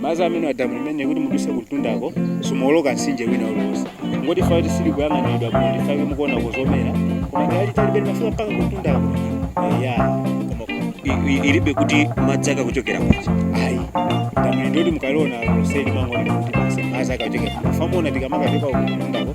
madzi amene a damu limene kuti muduse kumtundako simuwoloka mtsinje wina uliwonse ngoti fati sili kuyang'aniridwa bwino ndifake mukuona kuzomera koma ngati talibe limafika mpaka kumtundako ya koma i- i- ilibe kuti madzi akuchokera kuti ayi damu lindoti mukaliona lonseli mangoni kuti basi madzi akachokera famona tikamakachoka kumtundako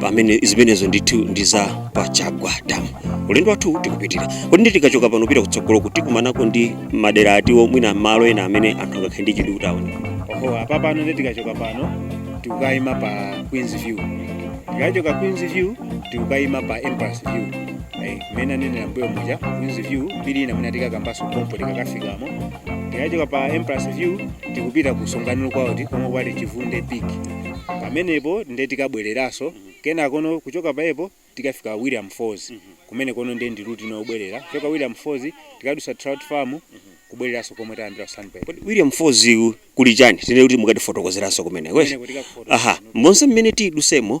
pamene zimenezo ndithu ndi za pa Chagwa damu ulendo wathu tikupitira kodi nde tikachoka pano kupita kutsogoloku tikumanako ndi madera ati mwina malo ena amene anthu angakhale ndi chidwi kuti aone oho apa pano nde tikachoka pano tikukayima pa queens view tikachoka queens view tikukayima pa empress view Eh, mmene anenera mbuyo muja queens view mbiri ina mwina tikakambanso pompo tikakafikamo tikachoka pa empress view tikupita ku songani lookout komwe kuli chivunde peak pamenepo nde tikabwereranso kenakono kuchoka pajapo tikafika williams falls kumeneko no nde ndi ruti yobwerera kuchoka williams falls tikadusa trout farm kubwereranso komwe tayambira ku sunbird Kodi williams falls yu kuli chani tinene kuti mukatifotokozeranso kumeneko eh? Kumeneko tikakufotokozera. aha monse mmene tidusemo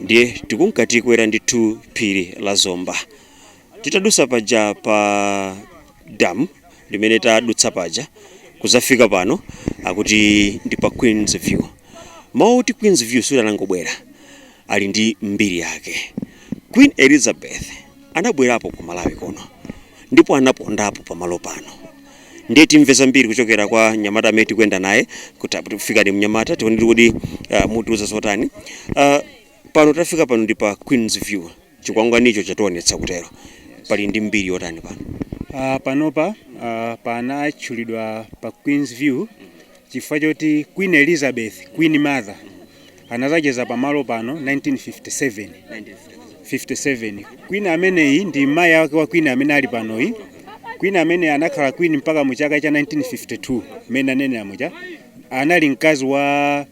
ndiye tikunka tikwera ndithu phiri la zomba titadusa paja pa damu limene tadutsa paja kuzafika pano akuti ndi pa queens view mawu oti queens view sadangobwera ali ndi mbiri yake queen elizabeth anabwerapo ku malawi kuno ndipo anapondapo pamalo pano ndiye timve zambiri kuchokera kwa mnyamata amene tikuyenda naye kuti apo tikufika ndi mnyamata tione ndithu kuti uh, mutiuza zotani uh, pano tafika pano ndi pa queens view chikwangwanicho chationetsa kutero pali ndi mbiri yotani pano Uh, panopa uh, panatchulidwa pa Queens View chifukwa choti Queen Elizabeth, Queen Mother, anazacheza pa malo pano 1957, 57. Queen ameneyi ndi mayi ake a Queen amene ali panoyi. Queen ameneyi anakhala Queen mpaka mu chaka cha 1952, mmene ndanenera muja, anali mkazi wa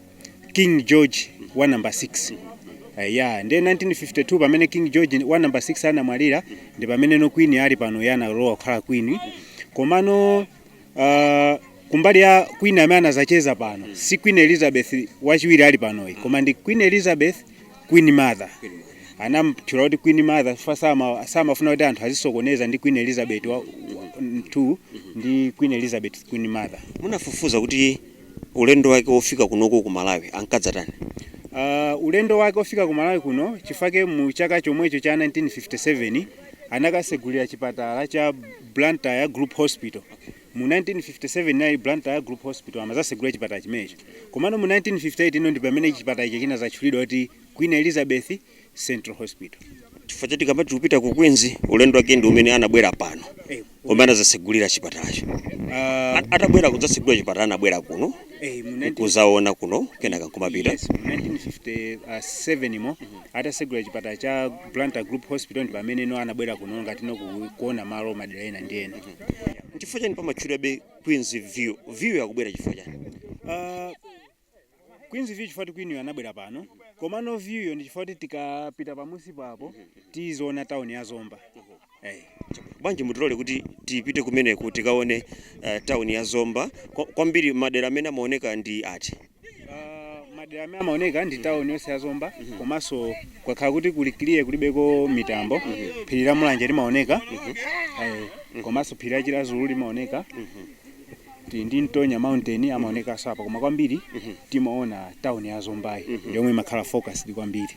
King George wa number 6. Eya, ndiye 1952 pamene King George wa number 6 anamwalira, ndi pamene no Queen ali panoyi analowa kukhala Queen. Komano uh, kumbali ya Queen amene anazacheza pano mm. si Queen Elizabeth wachiwiri ali panoyi mm. koma ndi Queen Elizabeth Queen Mother amamtchula kuti Queen Mother chifukwa sama samafuna kuti anthu azisokoneza ndi Queen Elizabeth wa 2 ndi Queen Elizabeth Queen Mother. Munafufuza kuti ulendo wake wofika kunoko ku Malawi ankadzatani? Uh, ulendo wake wofika ku Malawi kuno chifukwa mu chaka chomwecho cha 1957 anakasegulira chipatala cha Blantyre Group Hospital. Mu 1957 inali Blantyre Group Hospital amazasegula chipatala chimenecho. Komano mu 1958 ino ndi pamene chipatala icho chinadzatchulidwa kuti Queen Elizabeth Central Hospital. Chifukwa choti tikamati tikupita ku Queens ulendo wake ndi umene anabwera pano Eh, komwe anazasegulira chipatalacho. ah, At- Atabwera kudzasegula chipatala anabwera kuno eh, mu 19 kuzaona kuno kenaka nkumapita. Yes, mu 1957 yo atasegula chipatala cha Blantyre Group Hospital ndi pamene no anabwera kuno ngati no ku- kuona malo madera ena ndi ena chifukwa chani pamatchulidwabe queens view view yakubwera chifukwa chani Ah, Queens View chifukwa choti queen yo anabwera pano komano view yo ndi chifukwa kuti tikapita pamunsi papo tiziona tauni ya Zomba Eh, chabwino. bwanji mutilole kuti tipite kumeneku tikaone eh, tawuni ya zomba Kwa- kwambiri madera amene amaoneka ndi ati Uh, madera amene amaoneka ndi tawuni yonse ya zomba komanso kukakhala kuti kuli clear kulibeko mitambo phiri la mulanje limaoneka eh, komanso phiri la chiradzulu limaoneka tili ndi ntonya mountain amaonekanso apa koma kwambiri timaona town ya zombayi ndi yomwe imakhala focused kwambiri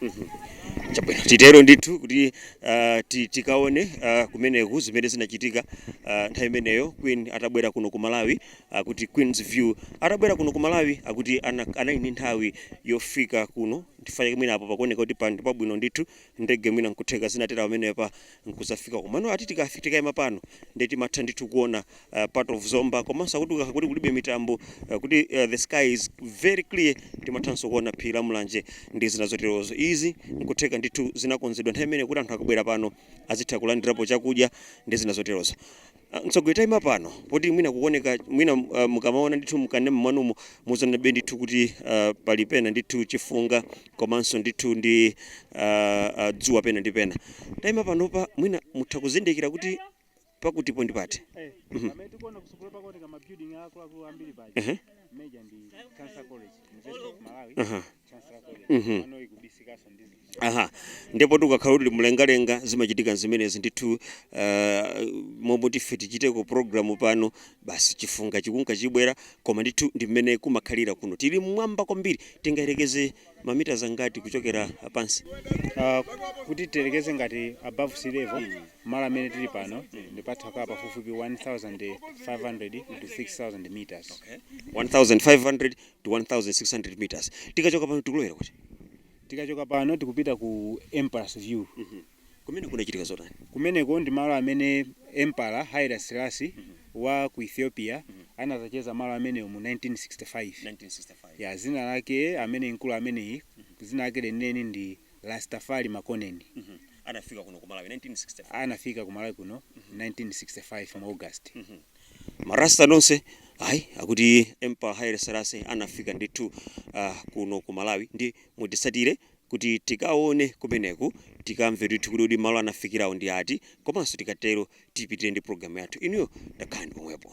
chabwino titero ndithu kuti ah, ti- tikaone ah, kumeneku zimene zinachitika ah, nthawi imeneyo queen atabwera kuno ku malawi akuti queens view atabwera kuno ku malawi akuti ana- anali ndi nthawi yofika kuno ndifanike mwina apo pakuoneka kuti pali pabwino ndithu ndege mwina nkutheka zinatera pamenepa nkuzafika komano ati tikafi tikaima pano timatha ndithu kuona uh, part of zomba komanso akuti ukakhala kuti kulibe mitambo uh, kuti uh, the sky is very clear timathanso kuona phiri la mulanje ndi zina zoterozo izi nkutheka ndithu zinakonzedwa nthawi imeneyo kuti anthu akabwera pano azitha kulandirapo chakudya ndi zina zoterozo Mtsogoleri taima pano poti mwina kukuoneka mwina uh, mukamaona ndithu mu kanema mwanumo muzionabe ndithu kuti uh, pali pena ndithu chifunga komanso ndithu ndi uh, uh, dzuwa pena ndi pena taima panopa mwina mutha kuzindikira kuti pakutipo ndi pati Eh, Mhm. pamene tikuona kusukulu pakuoneka mabuilding akuluakulu ambiri paja Ehe. paja ndi chancellor college university of malawi Aha. Mhm. Aha. Ndipo tikakhala kuti tili mlengalenga zimachitika zimenezi ndithu uh, momwe ife tichiteko programu pano basi chifunga chikunka chibwera koma ndithu ndi mmene kumakhalira kuno tili mmwamba kwambiri tingayerekeze mamitazi angati kuchokera pansi Ah, kuti tiyerekeze ngati above sea level malo amene tili pano ndi patha kukhala pafupifupi 1500 to 6000 meters 1500 to 1600 meters tikachoka pano tikulowera kuti tikachoka pano tikupita ku emperor's view kumene kunachitika zotani kumeneko ndi malo amene empara haile selasi wa ku ethiopia anazacheza malo amenewo mu 1965 1965 ya zina lake amene mkulu ameneyi zina lake lenileni ndi rastafari makonnen anafika kuno ku malawi 1965 anafika ku malawi kuno 1965 mu august ma rasta nonse ayi akuti empara haile selasi anafika ndithu kuno ku malawi ndiye mutitsatire kuti tikaone kumeneko tikamve ndithu kuti kuti malo anafikirawo ndi ati komanso tikatero tipitire ndi programu yathu inuyo takhalani pomwepo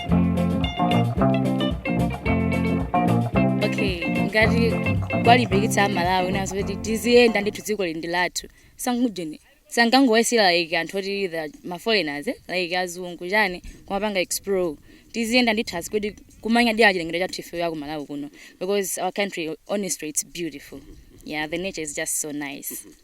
okay ngati kuwalimbikitsa amalawi anzathu kuti tiziyenda ndithu dziko ili ndi lathu sangujeni osangowasiyira like anthu oti maforeigners eh, like azungu chani kumapanga explore tiziyenda ndithu asi kuti kumanyadira chilengedwe chathu ife a ku malawi kuno because our country honestly it's beautiful yeah the nature is just so nice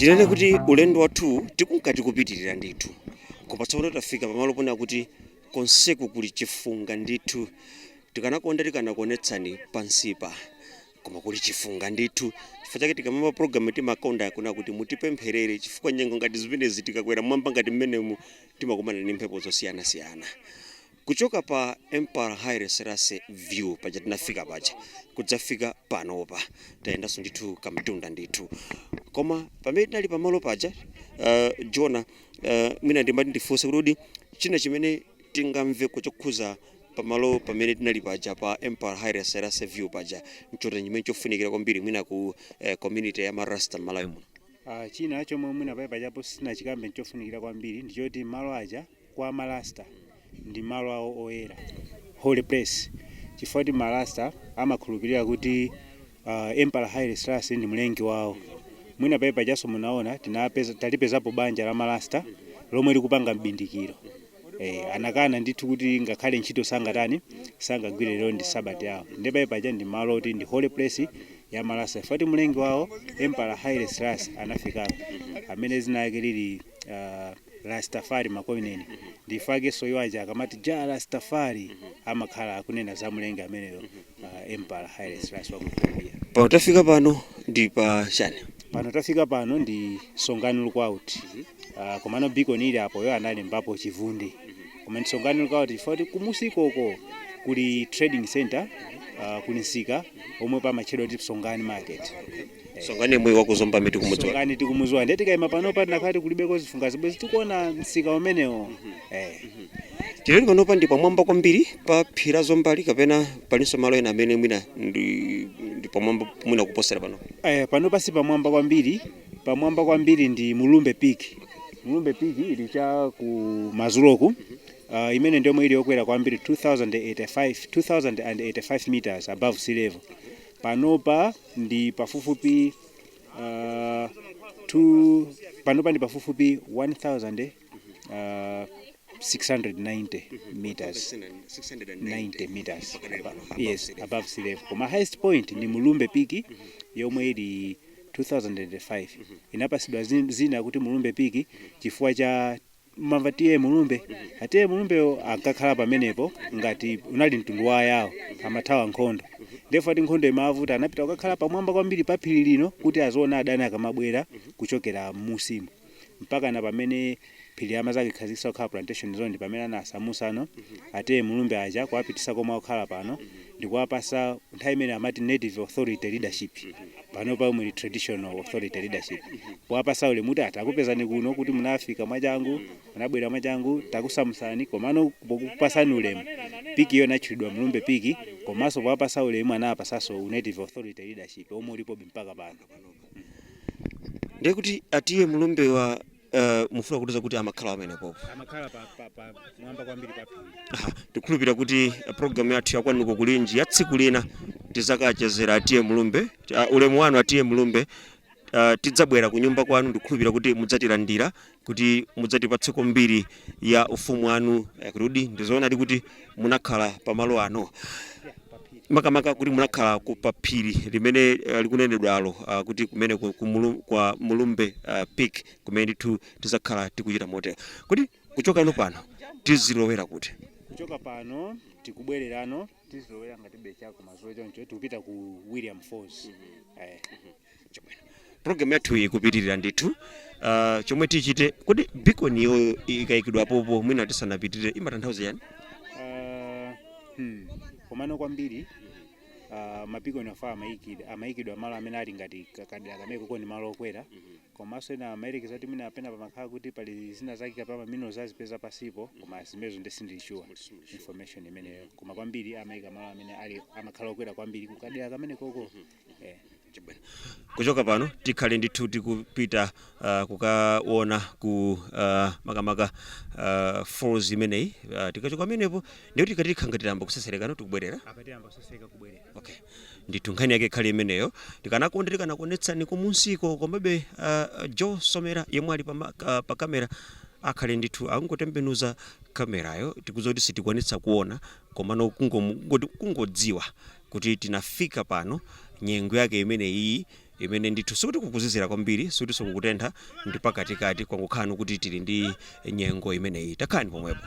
tinene kuti ulendo wathu tikunka tikupitirira ndithu koma tsopano tafika pamalo ponena kuti konseku kuli chifunga ndithu tikanakonda tikanakuonetsani pansipa Koma kuli chifunga ndithu. Chifukwa chake tikamayamba program timakonda kunena kuti mutipempherere chifukwa nyengo ngati zimenezi tikakwera m'mwamba ngati mmenemu timakumana ndi mphepo zosiyanasiyana. Kuchoka pa Emperor Haile Selassie view paja tinafika paja kudzafika panopa tayendanso ndithu kamtunda ndithu. Koma pamene tinali pamalo paja uh, Jonah uh, mwina ndimati ndifunse kuti kodi china chimene tingamveko chokhudza pamalo pamene tinali paja pa Emperor Haile Selassie View paja nchotani chimene chofunikira kwambiri mwina ku eh, community ya marasta m'malawi muno Ah, china chomwe mwina paja pajapo sindinachikambe nchofunikira kwambiri ndichoti malo aja kwa marasta ndi malo awo oyera holy place chifukwa choti marasta amakhulupirira kuti uh, Emperor Haile Selassie ndi mlengi wawo. Mwina paja pajanso munaona tinapeza tinapezapo banja la marasta lomwe likupanga mbindikiro. Eh, anakana ndithu kuti ngakhale ntchito sangatani sangagwire lero ndi sabata yawo. Ndiye paja paja ndi malo oti ndi holy place ya marasta. Chifukwa choti mlengi wawo Emperor Haile Selassie anafikapo amene dzina lake lili uh, Rastafari Makonnen nchifukwa chakenso iwo aja akamati Jah Rastafari amakhala akunena za mlengi ameneyo uh, emperor Haile Selassie wa ku Ethiopia. pano tafika pano ndi pa chani pano tafika pano ndi songani lookout uh, komano beacon ili apo yo analembapo chivunde koma ndi songani lookout chifukwa choti kumunsiko uko kuli trading center uh, kuli msika omwe pamatchedwa kuti songani market Songani mbuye wa ku Zomba miti kumudziwa songani tikumuziwa ndiye tikayima pano pa tinakhala tikulibeko zifungazi bwezi tikuona msika umenewo Eh. tili panopa ndi pamwamba kwambiri pa phiri la Zombali kapena palinso malo ena amene mwina ndi ndi pamwamba mwina kuposera pano Eh, pano si pamwamba kwambiri pamwamba kwambiri ndi Mulumbe peak Mulumbe peak ili cha kumadzuloku uh, imene ndiyo ili yokwera kwambiri 2085 2085 meters above sea level Panopa ndi pafupifupi uh, two, panopa ndi pafupifupi 1690 meters 90 meters above, yes above sea level koma highest point ndi Mulumbe peak yomwe ili 2005 inapatsidwa dzin- dzina kuti Mulumbe peak chifukwa cha mumamva TA Mulumbe a TA Mulumbewo ankakhala pamenepo ngati unali mtundu wa Ayawo amathawa nkhondo ndipo nde ati nkhondo imawavuta anapita kukakhala pamwamba kwambiri pa phiri lino kuti aziona adani akamabwera kuchokera m'munsimu mpakana pamene phiri limadzakhazikitsidwa kukhala plantation zone pamene anawasamutsano a TA Mulumbe aja kuwapititsa komwe akukhala pano ndikuwapatsa nthawi imeneyo amati native authority leadership panopa yomwe ili traditional authority leadership powapatsa ulemu kuti atakupezani kuno kuti munafika mwachangu munabwera mwachangu takusamutsani komano pokupatsani ulemu peak iyo inatchulidwa Mlumbe peak komanso powapatsa ulemu anawapatsanso u native authority leadership omwe ulipobe mpaka pano ndiye kuti a TA Mlumbewa Eh, mufuna kutiuza kuti amakhala pamenepopo amakhala pa pa pamwamba kwambiri pa phiri Aha, ndikhulupira kuti eh, programu yathu ya Kwanuko Kulinji ya tsiku lina tidzakachezera a TA Mulumbe ah, ulemu wanu a TA Mulumbe ah, tidzabwera ku nyumba kwanu ndikhulupira kuti mudzatilandira kuti mudzatipatseko mbiri ya ufumu wanu eh, kuti ndizoonadi kuti munakhala pamalo ano makamaka kuti munakhala ku paphiri limene eh, likunenedwalo ah, kuti kumene ku- ku Mulu- kwa Mulumbe ah, peak kumene ndithu tidzakhala tikuchita motero kodi kuchoka pano pano tizilowera kuti kuchoka pano tikubwererano tizilowera ngati cha kumadzulo choncho tikupita ku William falls eh. program yathu ikupitirira ndithu uh, chomwe tichite kodi beaconyo ikayikidwa popo mwina tisanapitirire imatanthauza chiyani Ah, hmm. komano kwambiri ah, ma beacon awa amayikidwa amayikidwa malo amene ali ngati ka- kadera kamenekoko ndi malo okwera komanso ena amayerekeza kuti mwina pena pamakhala kuti pali zina zake kapena ma minerals azipeza pansipo koma zimenezo nde sindili sure information imeneyo koma kwambiri amayika malo amene ali amakhala okwera kwambiri kukadera kamenekoko eh. Chabwino. kuchoka pano tikhale ndithu tikupita uh, kukaona ku uh, makamaka uh, falls imeneyi uh, tikachoka pamenepo ndiye kuti tikhala ngati tiyamba kutsetserekano tikubwerera akatiyamba kutsetsereka kubwerera Okay. ndithu nkhani yake ikhale imeneyo tikanakonda tikanakuonetsani kumunsiko komabe uh, joe somera yemwe ali pa, ma- ka- pa kamera akhale ndithu akungotembenuza kamerayo tikudziwa kuti sitikwanitsa kuona komano kungomu- kungoti- kungodziwa kuti tinafika pano nyengo yake imene iyi imene ndithu sikuti kukuzizira kwambiri sikuti sikukutentha ndi pakatikati kwangokhala kuti tili ndi nyengo imeneyi takhalani pomwepo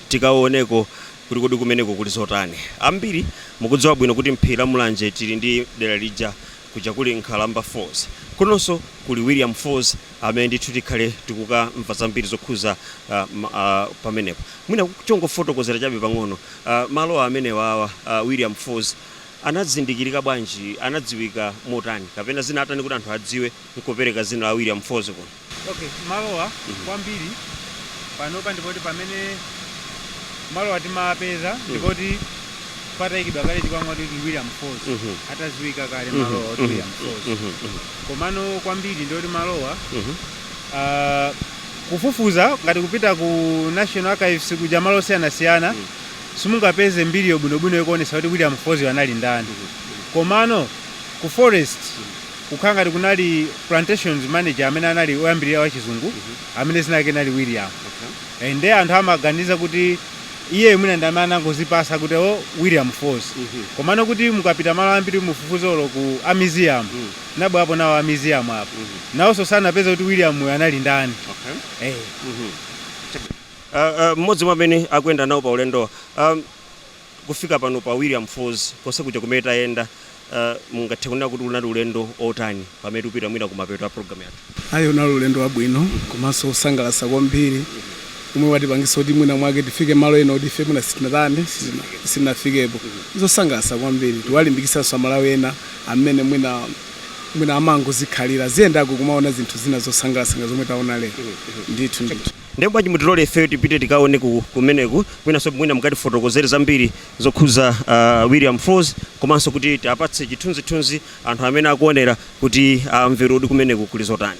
Tikaoneko kuti kodi kumeneko kuli zotani. Ambiri mukudziwa bwino kuti m'phiri la Mulanje tili ndi dera lija kuja kuli Nkhalamba Falls. Kunonso kuli William Falls amene ndithu tikhale tikukamva zambiri zokhuza pamenepo. Mwina chongofotokozera chabe pang'ono, malo amenewawa a William Falls anazindikirika bwanji, anadziwika motani kapena zinatani kuti anthu adziwe nkupereka dzina la William Falls kuno? Okay, malowa kwambiri panopa ndipo pamene malowa timapeza n'kuti pataikidwa kale chikwangwa kuti William Falls Mhm. atadziwika kale Mhm. malowa kuti Mhm. William Falls Mhm. Mhm. komano kwambiri ndiyoti malowa Mhm. ah, kufufuza ngati kupita ku National Archives kuja malo osiyanasiyana Mhm. simungapeze mbiri yobwinobwino yokuonesa kuti William Falls anali ndani komano ku forest kukhala ngati kunali plantations manager amene anali oyambirira wachizungu amene zina lake nali william Eh, nde anthu amaganiza kuti iye mwina ndi amene anangozipatsa kuti o william falls Mhm. komano kuti mukapita malo ambiri mufufuze olo ku a museum Mm. anabwerapo nawo a museum apo Mhm. nawonso sanapeza kuti william uyu anali ndani Okay. eh. Mhm. Uh, uh, mmodzi mwa amene akuyenda nawo pa ulendo um, Kufika pano pa William Falls konse kuja kumene tayenda, mungathe kunena kuti unali ulendo otani pamene tikupita mwina kumapeto a program yathu? Ayi, unali ulendo wabwino komanso osangalatsa kwambiri omwe watipangitsa kuti mwina mwake tifike malo ena oti ife mwina sitinatani, sitinafikepo. Ndi zosangalatsa kwambiri, tikuwalimbikitsanso a Malawi ena amene mwina, mwina amangozikhalira, aziyendako kumaona zinthu zina zosangalatsa ngati zomwe taona lero. Ndithu, ndithu. Ndiye bwanji mutilole ifeyo tipite tikaoneko kumeneku kwinaso mwina mukatifotokozere zambiri zokhuza uh, William Falls komanso kuti tiapatse chithunzithunzi anthu amene akuonera kuti amvere uh, kuti kumeneku kuli zotani.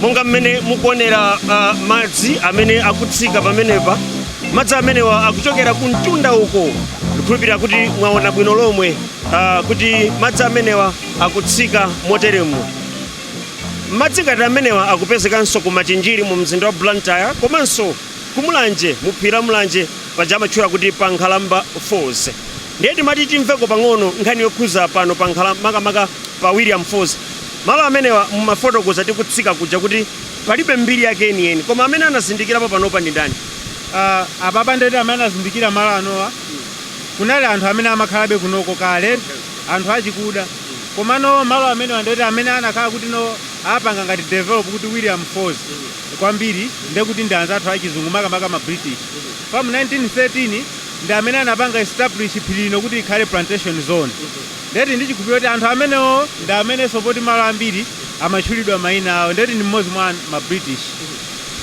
monga mmene mukuonera uh, madzi amene akutsika pamenepa madzi amenewa akuchokera ku mtunda uko ndikhulupirira kuti mwaona bwino lomwe uh, kuti madzi amenewa akutsika moteremo madzi ngati amenewa akupezekanso ku machinjiri mu mzinda wa blantyre komanso ku mulanje mu phiri la mulanje paja amatchula kuti pa nkhalamba falls Ndiye timati timveko pang'ono nkhani yokhuza pano pa nkhala makamaka pa William Falls. Malo amenewa mumafotokoza tikutsika kuja kuti palibe mbiri yake yeni yeni koma amene anazindikirapo panopa ndi ndani? Uh, apapa ndeti amene anazindikira malo anowa kunali anthu amene amakhalabe kunoko kale anthu achikuda komano malo amenewa ndeti amene anakhala kuti anapanga ngati develop kuti william falls kwambiri ndekuti ndi anzathu achizungu makamaka ma british pamu 1913 ndi amene anapanga establish phiri lino kuti likhale plantation zone ndeti ndichikhulupirira kuti anthu amenewo ndi amenenso poti malo ambiri amatchulidwa mayina awo ndeti ndi mmodzi mwa an- ma british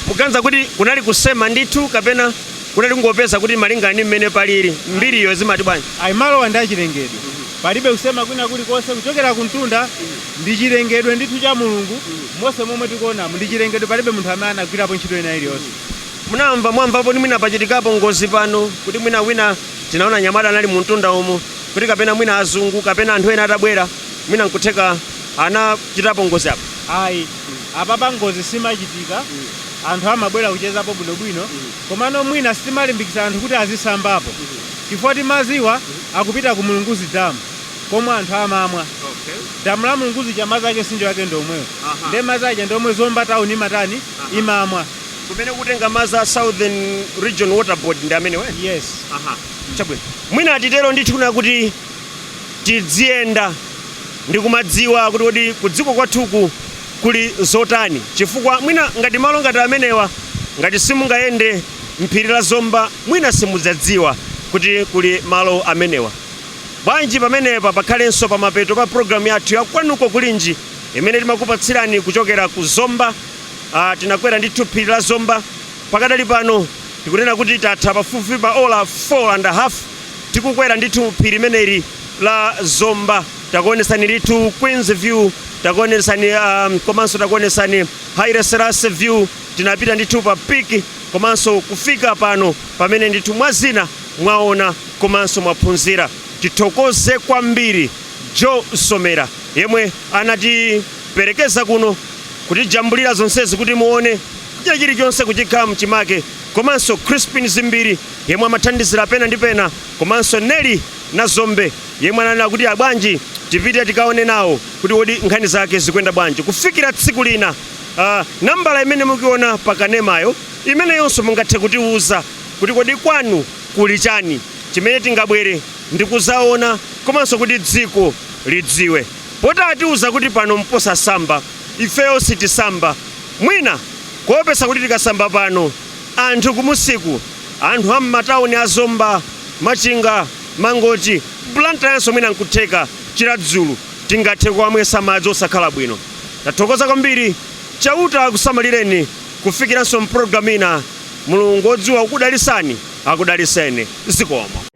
muganiza kuti kunali kusema ndithu kapena kunali kungopeza kuti malingana ndi mmene palili mbiriyo zimati bwanji ayi malowa ndi achilengedwe palibe kusema kwina kulikonse kuchokera kumtunda ndi chilengedwe ndithu cha mulungu monse momwe tikuonamu ndi chilengedwe palibe munthu amene anagwirapo ntchito ina iliyonse Munamva, mwamvapo kuti mwina pachitikapo ngozi pano, kuti mwina wina tinaona anyamata anali mu mtunda umu, kuti kapena mwina azungu kapena anthu ena atabwera mwina nkutheka anachitapo ngozi apa? Ayi, apapa ngozi simachitika, anthu amabwera kuchezapo bwinobwino, komano mwina sitimalimbikitsa anthu kuti azisambapo chifukwa maziwa akupita ku Mulunguzi Dam komwe anthu amamwa. Damu la Mulunguzi ija madzi ake mtsinje wake ndi omwewo, nde madzi aja ndi omwe Zomba Town imatani, imamwa. kumene kutenga madzi a southern region water board ndi amenewa eti? yes aha chabwino mwina titero ndithu ndi kuti tidziyenda ndi kumadziwa kuti kodi ku dziko kwathuku kuli zotani chifukwa mwina ngati malo ngati amenewa ngati simungayende mphiri la zomba mwina simudzadziwa kuti kuli malo amenewa bwanji pamenepa pakhalenso pamapeto pa programu yathu ya kwanuko kulinji imene timakupatsirani kuchokera ku zomba Ah, tinakwera ndithu phiri la zomba pakadali pano tikunena kuti tatha pafupifupi pa ola 4 and a half tikukwera ndithu phiri limeneli la zomba takuonesani ndithu queens view takuonesani um, komanso takuonesani haile selassie view tinapita ndithu pa piki komanso kufika pano pamene ndithu mwa zina mwaona komanso mwaphunzira tithokoze kwambiri joe somera yemwe anati Perekeza kuno kutijambulira zonsezi kuti muone china chilichonse chikhale mchimake komanso Chrispin Zimbiri yemwe amathandizira pena ndi pena komanso Nellie Nazombe yemwe ananena kuti abwanji tipite tikaone nawo kuti kodi nkhani zake zikuyenda bwanji kufikira tsiku lina ah, nambala imene mukuiona pa kanemayo imeneyonso mungathe kutiwuza kuti kodi kwanu kuli chani chimene tingabwere ndi kuzaona komanso kuti dziko lidziwe poti atiuza kuti pano mposamba ifeyo sitisamba mwina kuopesa kuti tikasamba pano anthu kumunsiku anthu a mmatauni a zomba, machinga, mangochi, Blantyrenso mwina nkutheka chiradzulu tingathe kuwamwesa madzi osakhala bwino. Tathokoza kwambiri chauta akusamalireni kufikiranso mpologalamu ina mulungu odziwa kukudalisani akudaliseni zikomo.